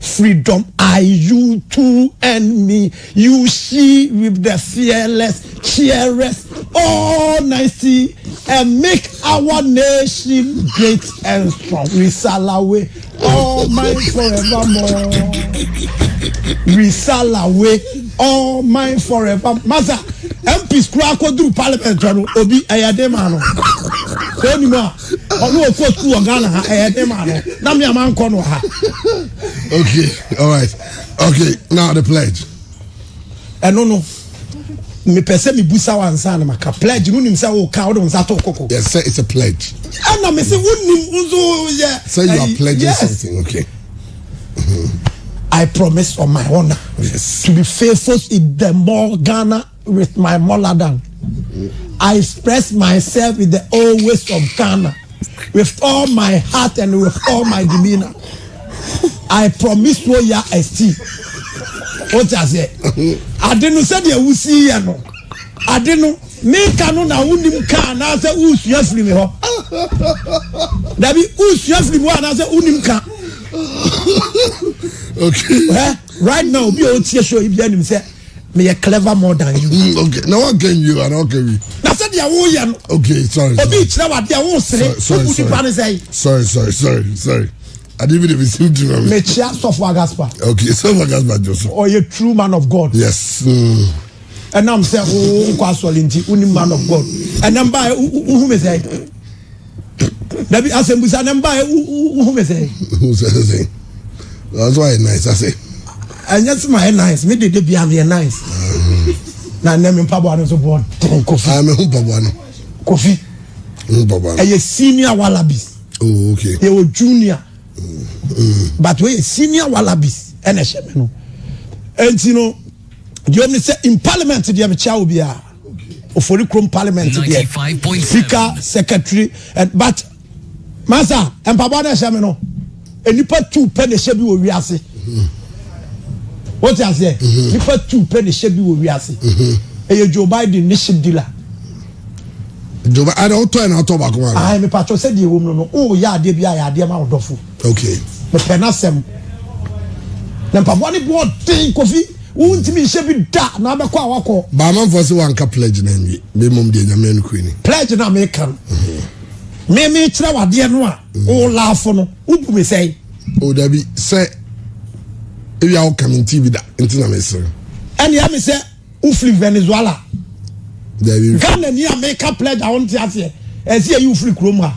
Speaker 1: Freedom I you too and me you she with the fearless cheerers all night see and make our nation great and strong we salawe all mine forevermore we salawe all mine forever masa MPs kura akɔduru parliament no obi ɛyɛ den ma no sɛ onim a ɔno ɔkɔ sukuu wɔ ghana ha ɛyɛ den maa no na me a mankɔ no wɔ ha
Speaker 2: okay all right okay now the pledge ɛno
Speaker 1: no mepɛ sɛ mebusa wo ansa na maka pledge no nim sɛ woka wode wo nsa to koko yes sir it's a pledge
Speaker 2: ɛna me sɛ
Speaker 1: wonim nso yɛ sɛ you are pledging yes.
Speaker 2: something okay
Speaker 1: I promise on my honor yes. to be faithful in the more Ghana with my moladan I express myself with the old ways of Ghana with all my heart and with all my demeanor I promise wo ya esti o ti ase ade no sɛdeɛ wusi yɛ no ade no meka no na wonim ka anaasɛ wosua firi me hɔ dabi wosua firi me hɔ anaasɛ wonim ka
Speaker 2: okay. right now obi
Speaker 1: a ɔtie show yi bia nim sɛ meyɛ clever more than you. Mm, okay na wa kɛ nwi
Speaker 2: wa na ɔkɛ wi. na sɛ deɛ wo yɛ
Speaker 1: no. okay sorry sorry obi
Speaker 2: kyerɛ wa deɛ wo
Speaker 1: sere obu nipa ne sɛyi. sorry sorry sorry
Speaker 2: sorry adi bi de bi si mi tiri ma mi. mekyia sɔfo agaspa.
Speaker 1: okay sɔfo agaspa
Speaker 2: jɔ so. ɔyɛ true man of
Speaker 1: god. yes. Mm. ɛnam sɛ wo nkɔ asɔre nti wo ni man of god ɛnam ba wo hu mi sɛ. dabi asɛmbusa ne mba wohu me sɛ
Speaker 2: nso ayɛ nice ase ɛnyɛ sɛ
Speaker 1: ma yɛ nice me dede bia meyɛ nice na nnɛ me mpaboa no nso boɔ den kofi ah, mehu mpaboa no
Speaker 2: kofi ɛyɛ
Speaker 1: senior wallabies oh, okay. yɛwɔ
Speaker 2: junior
Speaker 1: mm. but wɔyɛ senior wallabies ɛna ɛhyɛ me no ɛnti no deɛ ɔm ne sɛ in parliament deɛ mekyia wo biara oforikrom parliament deɛ sika secretary and but masa mpaboa na ɛhyɛ mi no nipa tu pɛ na ɛhyɛ bi wɔ wiase o ti aseɛ nipa tu pɛ na ɛhyɛ bi wɔ wiase ɛyɛ joe biden ne ship dealer. joe biden
Speaker 2: ɛna ɔtɔ ɛna ɔtɔ baako ma. ayi mi patro sɛ
Speaker 1: deɛ wɔm no no o yɛ adeɛ bi a yɛ adeɛ ma ɔdɔfo. okay. mepɛ
Speaker 2: n'asɛm
Speaker 1: na mpaboa ne boɔ den kofi. Wontumi nhyɛ bi da na abɛkɔ a wakɔ. Ba amanfoɔ se wanka
Speaker 2: pledge no anwie me mmom deɛ nyame anukuri ni. Pledge na meka no.
Speaker 1: Me me kyerɛ wadeɛ no a wo laafo no wobu me sɛe. O dabi
Speaker 2: sɛ ewia wo ka me nti bi da nti na mesere. Ɛne ɛme sɛ
Speaker 1: wofiri Venezuela. Dabi. Ghana ni a meka pledge a wonte aseɛ ɛsi ɛyi wofiri kurom ha.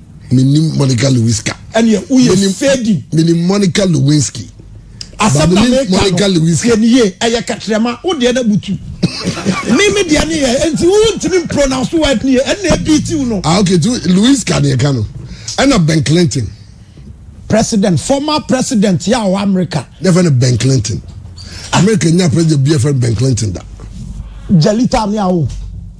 Speaker 1: Menim
Speaker 2: Monica Lewiska. Ɛneɛ woyɛ
Speaker 1: fedi. Menim Monica
Speaker 2: Lewinsky. Asɛm na
Speaker 1: meka Monica Lewiska. Yɛ nie ɛyɛ kɛtrɛma wo deɛ na butu. Me me deɛ ne yɛ nti wo ntumi pronounce word nie ɛna ebi tiw no. Ah okay tu Lewiska
Speaker 2: ne ɛka no. Ɛna Ben Clinton. President
Speaker 1: former president yɛ a wɔ America. Yɛ fɛ no Ben Clinton.
Speaker 2: America nya president bi yɛ fɛ Ben Clinton da. Jalita
Speaker 1: ne awo.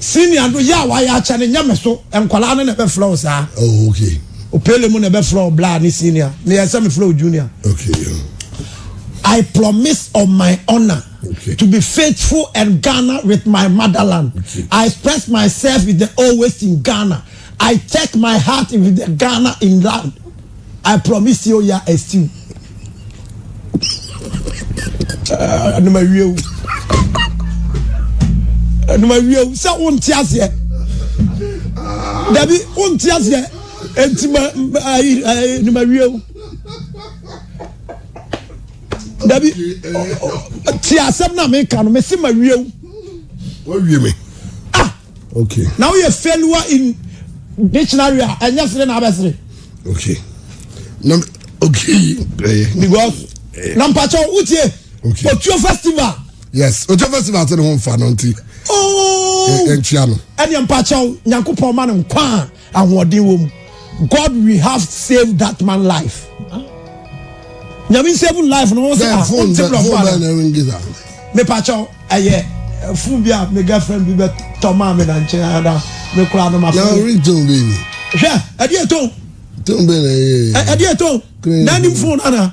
Speaker 2: Senior no yɛ a
Speaker 1: wayɛ akyɛ no nyɛ me so nkwadaa no na ɛbɛfrɛ wo saa oh, okay.
Speaker 2: opele mu na ɛbɛfrɛ
Speaker 1: wo bla ne senior na yɛ sɛ mefrɛ wo junior okay. I promise on my honor okay. to be faithful and Ghana with my motherland. Okay. I express myself with the always in Ghana. I take my heart with the Ghana in land. I promise you ya estiw. Ɛnum awie o. Ɛnum awie o sɛ o nti aseɛ. Dabi o nti aseɛ eti ma ayi ɛnum awie o. Dabi ti asɛm na mi ka no mi si ma wie o. Wọ́n wie
Speaker 2: mi. Okay. Na woyɛ failure
Speaker 1: in dictionary a ɛnyɛ sere na abɛsere. Okay.
Speaker 2: Na okay. Eh. Because
Speaker 1: eh. na mpatsɔ wotie. Okay. Otuo
Speaker 2: festival.
Speaker 1: Yes, Otuo
Speaker 2: festival ti ne ho nfa no nti. Ooo. Oh.
Speaker 1: Ɛnkyia no. Ɛni
Speaker 2: mpatsɔ
Speaker 1: nyankopɔn ma no nkwa. Ahoɔden wɔ mu. God we have save that man life. Nyame save life no wɔn sɛ ah wɔn ti blɔfo
Speaker 2: ala.
Speaker 1: Mepakyɛw ɛyɛ eh, fun bi a me girlfriend bi bɛ tɔ maa mi na nkyɛn ada me kura no ma fun. Na ori tɔn bɛ ni.
Speaker 2: Hwɛ ɛdi
Speaker 1: ɛtɔn. Tɔn bɛ na ɛyɛ.
Speaker 2: Ɛdi ɛtɔn.
Speaker 1: N'anim fun ana.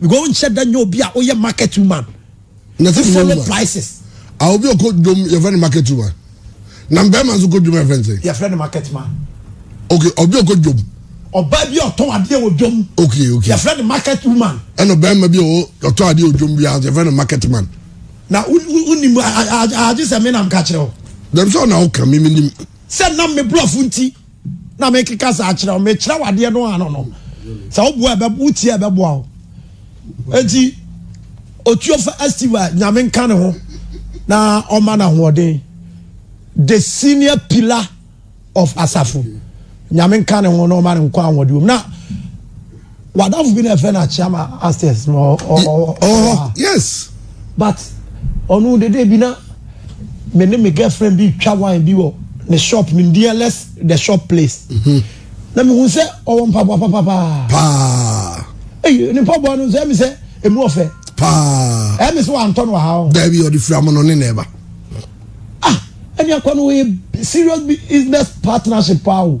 Speaker 1: because o nhyɛ da nyɛ obi a oyɛ market woman na ti follow
Speaker 2: prices.
Speaker 1: a obi ɔkɔ
Speaker 2: dwom yɛfrɛ no market woman na mbɛrima nso kɔ dwom yɛfrɛ no sɛ. yɛfrɛ no market man.
Speaker 1: okay obi
Speaker 2: ɔkɔ dwom. ɔbaa bi a ɔtɔn
Speaker 1: adeɛ wɔ dwom. okay okay yɛfrɛ no
Speaker 2: market
Speaker 1: woman. ɛna ɔbɛrima bi a
Speaker 2: ɔtɔn adeɛ wɔ dwom bi a yɛfrɛ no market man. na
Speaker 1: wonim agye sɛ me nam ka kyerɛ o. dɛm sɛ ɔna woka
Speaker 2: me menim. sɛ nam me
Speaker 1: borɔfo nti. na mekeka saa kyerɛ wo mekyerɛ wo adeɛ no ano no sɛ woboa ɛbɛ wotie a ɛbɛboa wo enti otuofa estiva nyame nka ne ho na ɔma no ahoɔden the senior pillar of asafo nyame nka ne ho na ɔma no nkɔ ahoɔden mu na wadafo bi na ɛfrɛ no akyea ma upstairs ma ɔwɔ yes
Speaker 2: but
Speaker 1: ɔno dede bi na me ne me girlfriend bi twa wine bi wɔ ne shop nim deɛ less the shop place mhm. na mehu sɛ ɔwɔ mpaboa papapaa paa eyi ne mpaboa no sɛ mi sɛ emu ɔfɛ paa ɛmi
Speaker 2: sɛ wantɔ no
Speaker 1: ha o dɛbi ɔde fira mu no ne
Speaker 2: na ɛba ah
Speaker 1: ɛni akɔ no yɛ serious business partnership paa o.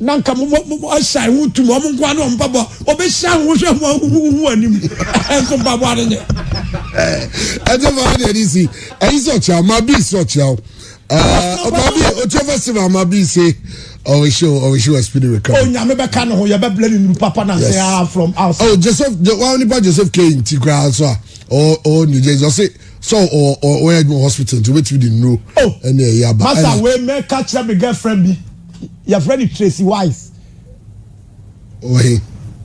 Speaker 2: na nka
Speaker 1: mo mo mo asan ho tum wɔn nkoa ne wɔn mpaboa wɔbɛhyira ho hwɛ ho ahuhu ho anim nso mpaboa no nyɛ.
Speaker 2: ɛnyɛ fa ɔde ɛde si ɛyi sɛ ɔkyerɛ ɔma bi sɛ ɔkyerɛ o ɔma bi ɔkyerɛ fɛ si ma ɔma bi se ɔwɔ se ɔwɔ se wɔ speed reka. onyame bɛka ne ho
Speaker 1: yɛbɛbla ne nuru papa na sɛ ah from outside. ɔ oh, joseph wa
Speaker 2: nipa joseph kane nti koraa nso a ɔ ɔ new jersey ɔse sɛ ɔ ɔ ɔyɛ adwuma hospital nti wobɛtumi de nuro ɛne ɛyɛ aba.
Speaker 1: masa
Speaker 2: wei mɛka kyerɛ
Speaker 1: me girlfriend bi. yɛfrɛ no tracy wise
Speaker 2: ɔwɔ he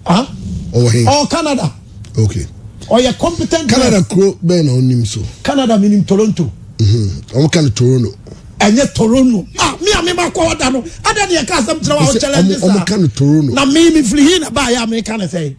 Speaker 2: ah
Speaker 1: ɔwɔ he ɔwɔ
Speaker 2: canada
Speaker 1: okay
Speaker 2: ɔyɛ competent
Speaker 1: canada kuro bɛn na
Speaker 2: ɔnim so canada menim toronto
Speaker 1: ɔmo ka no
Speaker 2: toronto ɛnyɛ toronto
Speaker 1: ah mi a mi ma kɔ ɔda no ada ni ɛka asɛm kyerɛ wa ɔkyɛlɛ ɛdi sa ɔmo ka no toronto na mi
Speaker 2: mi firi hin na
Speaker 1: ba yɛ a mi ka ne sɛ.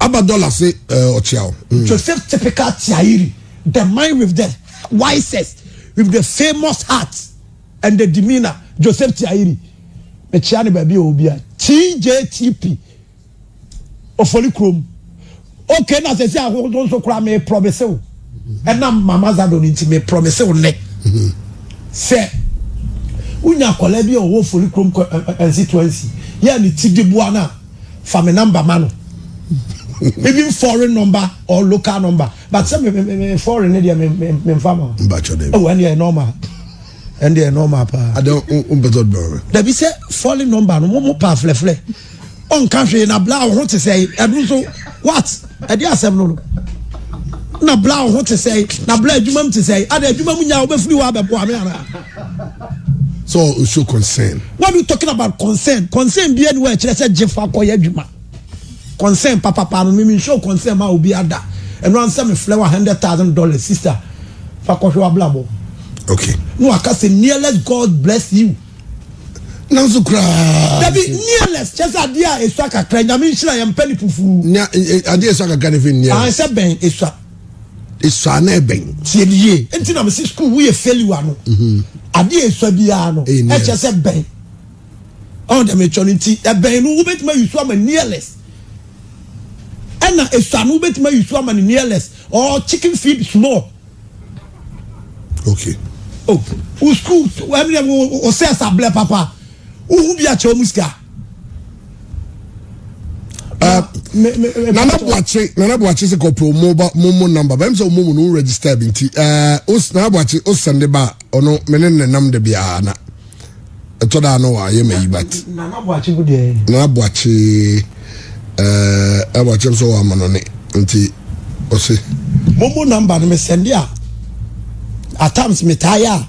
Speaker 1: Aba dollar
Speaker 2: se eh, ɔkyea o. Mm. Joseph typical
Speaker 1: tiayiri, the man with the wisest, with the famous heart and the demeanor. Joseph tiayiri. Mekyia ne baabi a obi a. TJTP. Ofoli krom. Okay na sɛ sɛ ahodoɔ nso koraa me promise wo. Ɛnam mama zado no nti me promise wo nnɛ. Sɛ wonya akwadaa bi a ɔwɔ ofoli krom constituency yɛ ne ti de boa no a fa me number ma no even foreign number or local number but sɛ me me me me foreign ne deɛ me me me nfa ma. n ba kyɔ dɛ. ɛwɔ ɛn deɛ normal ɛn deɛ normal paa. adé o o mpɛtɛ ɔdun
Speaker 2: ɔrɛ. dabi sɛ foreign
Speaker 1: number no mo mo pa filɛfilɛ ɔnka hwee na bla ɔho te sɛ ɛdu nso what ɛdi asɛm no no na bla ɔho te sɛ na bla adwuma mu te sɛ adé adwuma mu nya ɔbɛfiri hɔ abɛboa mi ana. So or
Speaker 2: show concern. What are you talking about
Speaker 1: concern? Concern bi anywhere kyerɛ sɛ gye fa kɔ yɛ adwuma. Concern papa pa no me show concern ma obi ada. Ɛno ansɛ me flɛ wa hundred thousand dollars sister fa kɔhwɛ wablabɔ. Okay. No
Speaker 2: aka sɛ
Speaker 1: nearless God bless you. Nanso
Speaker 2: koraa. Dabi
Speaker 1: nearless kyɛ sɛ adeɛ a esua kakra nyame nhyira yɛn mpɛ ne fufu. Nya adeɛ esua
Speaker 2: kakra ne fi nearless. Ahɛsɛ bɛn esua.
Speaker 1: Esua
Speaker 2: no ɛbɛn. Tie me yie. Nti na
Speaker 1: mesi school wo yɛ failure no. Mhm. Adeɛ esua biara no. Ɛyɛ nearest. Ɛkyɛ sɛ bɛn. Ɔn dɛ me kyɛ no nti ɛbɛn no wobɛtumi ayi so ama nearest. Ɛna esua no wobɛtumi ayi so ama ne nearest or chicken feed small.
Speaker 2: Okay.
Speaker 1: Oh, wo school ɛmi dɛ wo sɛ ɛsa blɛ papa. Wohu bi akyɛ wɔn sika.
Speaker 2: nana buakye nana buakye sɛ kɔpɛ ɔmo ba mo mo namba bɛn sɛ ɔmo mu no register bi nti ɛɛ os nana buakye o sɛnde ba ɔno me ne ne nam de bi aa na ɛtɔ da ano wa yɛ ma yi bat nana buakye bu deɛ
Speaker 1: nana buakye
Speaker 2: ɛɛ nana buakye nso wɔ ama no ne nti ɔsi. mo mo namba
Speaker 1: no me sɛnde a at times me taa yɛ a.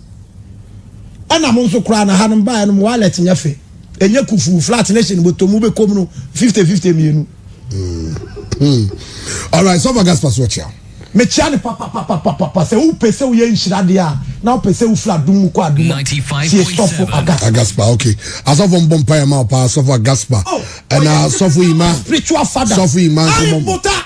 Speaker 1: Ɛna mo nso koraa na ha no mo baeɛ no mo wallet nyɛ fɛ. Ɛnyɛ kufuu flat ne hyɛn bɔtɔ mu bɛkɔm no fifty fifty mmienu. Hmm.
Speaker 2: Alright, sɔfo Gaspar so ɔkyea. Mekyea ne
Speaker 1: papapapapapa sɛ wopɛ sɛ woyɛ nhyira deɛ a na wopɛ sɛ wofiri adom mu kɔ adom a tie sɔfo
Speaker 4: Agaspa. Agaspa
Speaker 2: okay. Asɔfo mbɔ mpaeɛ ma wo paa sɔfo Agaspa. Oh, ɛna sɔfo Ima. Spiritual father. Sɔfo
Speaker 1: Ima nkɔmɔ.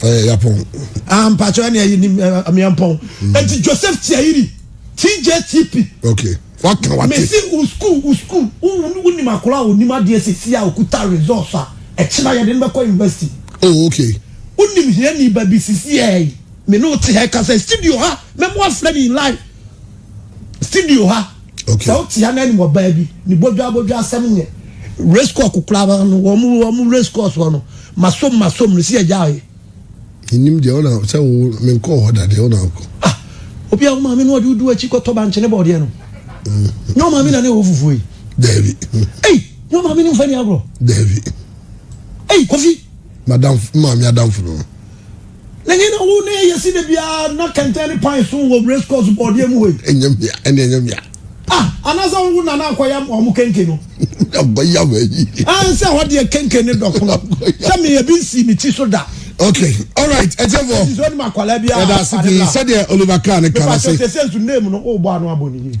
Speaker 1: ɛyɛ yapɔn.
Speaker 2: ah mpatsɔ
Speaker 1: ɛni ɛyi ni miampɔn eti mm. joseph tiayiri tjtp. ok waka
Speaker 2: wate. mesi u school u
Speaker 1: school u u nim akora a onim adeɛ sisi a okuta results a ɛkyina yɛde no bɛkɔ university. oh ok.
Speaker 2: u nim hiɛ ni
Speaker 1: ba bi sisi ɛɛ mi n'o ti hɛ kasa studio ha mɛ mo afilɛ ni live studio ha. Okay. Sɛ wote ana
Speaker 2: anim ɔbaa
Speaker 1: bi ne bodwa bodwa asɛm nyɛ. Race course kokora ba no wɔn mu wɔn mu race course wɔ no masom masom no si agya ayɛ. Nim deɛ
Speaker 2: ɔna sɛ wo menkɔ hɔ da deɛ ɔna akɔ. Ah obi a
Speaker 1: wo maame no ɔde wodu akyi kɔtɔ bankyene bɔɔdeɛ no. Nyɛ wo maame na ne wɔ fufuo yi. Daabi.
Speaker 2: Ei nyɛ wo
Speaker 1: maame ne mfa ni agorɔ. Daabi.
Speaker 2: Ei
Speaker 1: kofi. Madam maame
Speaker 2: adamfo no.
Speaker 1: N'enyi na wo ne yɛ si da biara na kɛntɛn ne pan so wɔ race course bɔɔdeɛ mu hɔ yi. Ɛnyɛ mmea, ɛne ɛnyɛ mmea.
Speaker 2: Ah, anaasɛ
Speaker 1: wo na na akɔyam wɔn kenke no? Abɔyam ayi.
Speaker 2: Ah, nsɛ hɔ deɛ
Speaker 1: kenke ne dɔ pono. Sɛ me ebi nsi me ti so da. Okay, all
Speaker 2: right, ɛtɛfɔ. Ɛsi sɛ ɔnim akwadaa bi a.
Speaker 1: Ɛda ase pii sɛdeɛ
Speaker 2: Oliver Kahn ne kan ase. Mepa sɛ sɛ nsu name no o bɔ
Speaker 1: ano abɔ ne yie.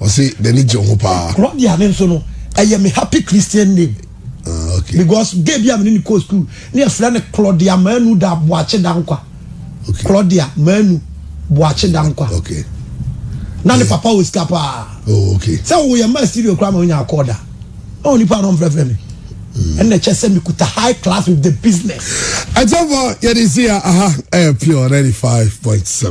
Speaker 2: ɔsi n'ani gye ho paa. Claudia ne nso no
Speaker 1: ɛyɛ me happy christian name. Uh, okay. because
Speaker 2: gay bi a mene
Speaker 1: ne kɔ school ne ɛfrɛ no claudia manu da boakye da nkwa okay. claudia
Speaker 2: manu
Speaker 1: boakye da nkwa okay.
Speaker 2: na ne
Speaker 1: papa wɔ sika paa oh, okay. sɛ woyɛ
Speaker 2: ma studio
Speaker 1: koraa ma wonya akɔɔ da na onipa no mfrɛfrɛ me ɛna kyɛ sɛ mekuta high class with the business
Speaker 2: ɛkyɛmfɔ yɛde
Speaker 1: si
Speaker 2: a aha ɛyɛ pure 95.7